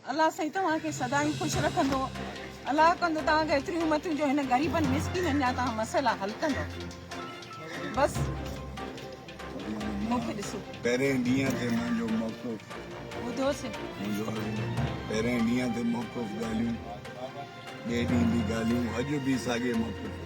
الله سائين توهان کي سدائين خوش رکندو الله ڪندو توهان کي ايتريون امتيون جو هن غريبن مسڪينن جا توهان مسئلا حل ڪندو بس مونکي ڏسو پهرين ڏينهن تي منهنجو موقف ٻڌو سي منهنجو پهرين ڏينهن تي موقف ڳالهيون ٻئي ڏينهن به ڳالهيون اڄ به ساڳي موقف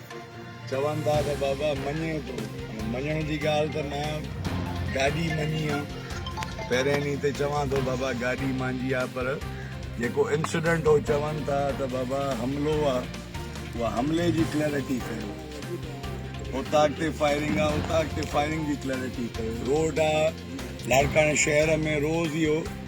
چون ٿا ته بابا مڃي ٿو هاڻي مڃڻ جي ڳالهه ته مان گاڏي مڃي آ پهرين ڏينهن تي چوان ٿو بابا گاڏي مانجي آ پر جيڪو انسڊنٽ هو چون ٿا ته بابا حملو آ اها حملي جي ڪليئرٽي ڪيو اوطاق تي فائرنگ آ اوطاق تي فائرنگ جي ڪليئرٽي ڪيو روڊ آ لاڙڪاڻي شهر ۾ روز اهو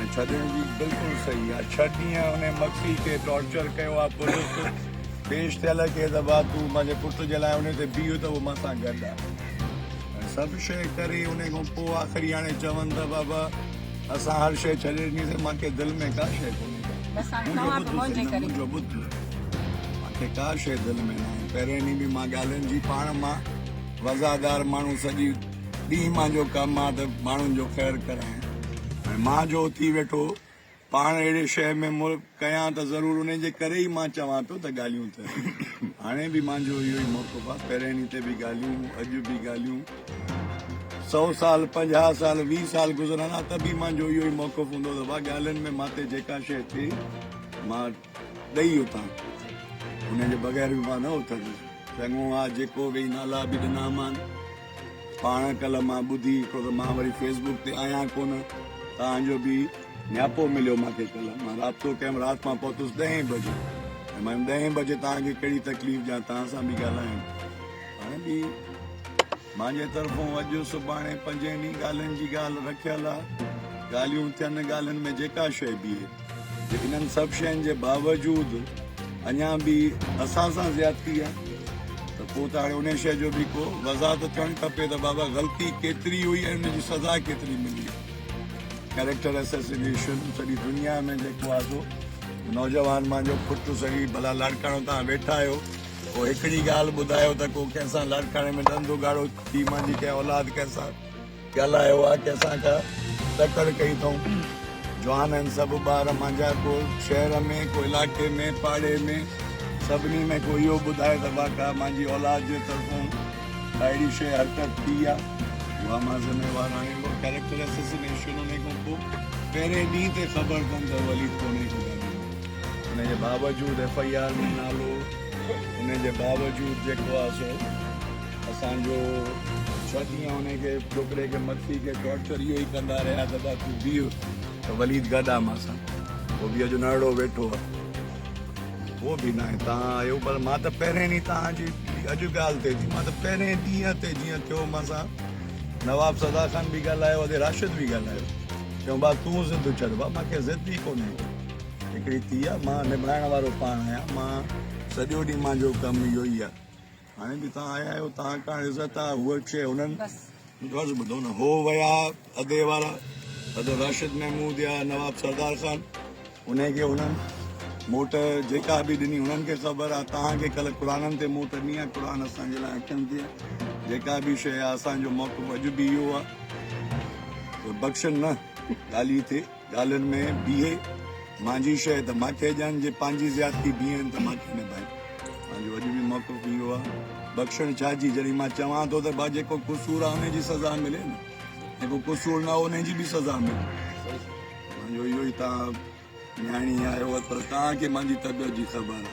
۽ ڇڏڻ جي بلڪل صحيح آ ڇهه ڏينهن انهي مکي کي ٽارچر ڪيو آ پوليس پيش ٿيل ڪيس آ ڀا تون پنهنجي پٽ جي لاء انهي تي بيهه ته هو مان سان گڏ آ ۽ سڀ شئي ڪري انهي کان پو آخري هاڻي چون ته بابا اسان هر شئي ڇڏي ڏني سين مانکي دل ۾ ڪا شئي ڪونهي منهنجو ٻڌ مانکي ڪا شئي دل ۾ ناهي پهرين ڏينهن به مان ڳالهين جي پاڻ مان وزادار ماڻهو سڄي ڏينهن مان جو ڪم آ ته ماڻهن جو خير ڪرائين هاڻي مان جو اٿي ويٺو پاڻ اهڙي شهر ۾ ملڪ ڪيان ته ضرور انهي جي ڪري ئي مان چوان ٿو ته ڳالهيون ته هاڻي به مان جو اهو ئي موقف آ پهرين ڏينهن تي به ڳالهيون اڄ به ڳالهيون سو سال پنجاهه سال ويهه سال گذرندا ته به مان جو اهو ئي موقف هوندو ته ڀا ڳالهين ۾ مان تي جيڪا شي ٿئي مان ڏئي اتان انهن جي بغير به مان نه اٿندس. چڱو آ جيڪو ويهي نالا به ڏنا مان. پاڻ ڪلهه مان ٻڌي ڇو ته مان وري فيس بوڪ تي آهيان ڪونه تان جو به نياپو مليو مان کي ڪلهه مان رابطو ڪيم رات مان پهتس ڏهين بجي ۽ مان ڏهين بجي تان کي ڪهڙي تڪليف ڏيان تان سان به ڳالهايم هاڻي به مانجي طرفون اڄ سڀاڻي پنجين ئي ڳالهين جي ڳالهه رکيل آ. ڳالهيون ٿين ڳالهين ۾ جيڪا شيء بيهي. جي انهن سڀ شين جي باوجود اڃا به اسان سان زيادتي آ ته پو ته هاڻي انهي شيء جو به ڪو وضاحت ٿيڻ کپي ته بابا غلطي ڪيتري هئي ۽ ان جي سزا ڪيتري ملي. ڪيريڪٽر اسيسينيشن سڄي دنيا ۾ جيڪو آ سو نوجوان مانجو پٽ سهي ڀلا لاڙڪاڻو تان ويٺا آهيو. پوء هڪڙي ڳالهه ٻڌايو ته ڪو ڪنهن سان لاڙڪاڻي ۾ ڏند اگهاڙو ٿي مانجي ڪنهن اولاد ڪنهن سان ڳالهايو آ ڪنهن سان ڪا تڪڙ ڪئي اٿئون جوان آهن سڀ ٻار مانجا ڪو شهر ۾ ڪو علائقي ۾ پاڙي ۾ سڀني ۾ ڪو اهو ٻڌائي ته واقعا مانجي اولاد جي طرفون ڪا اهڙي شيء حرڪت ٿي آ اها مان ذميوار آهيان اها ڪريڪٽر اسسنيشن هوني کان پوء پهرين ڏينهن تي خبر تن ته وليد ڪونهي ڪو ڳالهائيندو ان جي باوجود ايف آء آر ۾ نالو ان جي باوجود جيڪو آهي سو اسان جو ڇهه ڏينهن ان کي ڇوڪري کي مٿي کي ٽارچر اهو ئي ڪندا رهيا ته بس تون بيهه ته وليد گڏ آهي مان سان هو به اڄ نرڙو ويٺو آهي هو به ناهي تان آيو پر مان ته پهرين ڏينهن تان جي اڄ ڳالهه ٿئي ٿي مان ته پهرين ڏينهن تي جيئن ٿيو مان سان نواب سدا خان به ڳالهايو ادي راشد به ڳالهايو چيو با تون ضد ڇڏ با مان کي ضد ئي ڪونهي هڪڙي ٿي آ مان نڀائڻ وارو پاڻ آهيان مان سڄو ڏينهن مانجو ڪم اهو ئي آ هاڻي به توهان آيا آهيو توهان ڪاڻ عزت آ هوء شيء هنن غرض ٻڌو نه هو ويا ادي وارا ادو راشد محمود يا نواب سردار خان انهي کي هنن موٽ جيڪا به ڏني هنن کي خبر آ توهان کي ڪل قرآنن تي موٽ ڏني آ قرآن اسان جي لاء اکين تي جيڪا به شيء آ اسان جو موقف اڄ به اهو آ بخشن نه ڳالهي تي ڳالهين ۾ بيهي مانجهي شيء ته ماکي ڄاڻ، جي پانجهي زيادتي بيهين ته ماکي نڀائين. مانجهو اڄ به موقف اهو آ، بخشڻ ڇا جي، جڏهن مان چوان ٿو ته ڀا جيڪو قصور آ انهي جي سزا ملي نه، جيڪو قصور نه آ انهي جي به سزا ملي. مانجهو اهو ئي توهان نياڻي آهيو پر توهان کي مانجهي طبيعت جي خبر آ.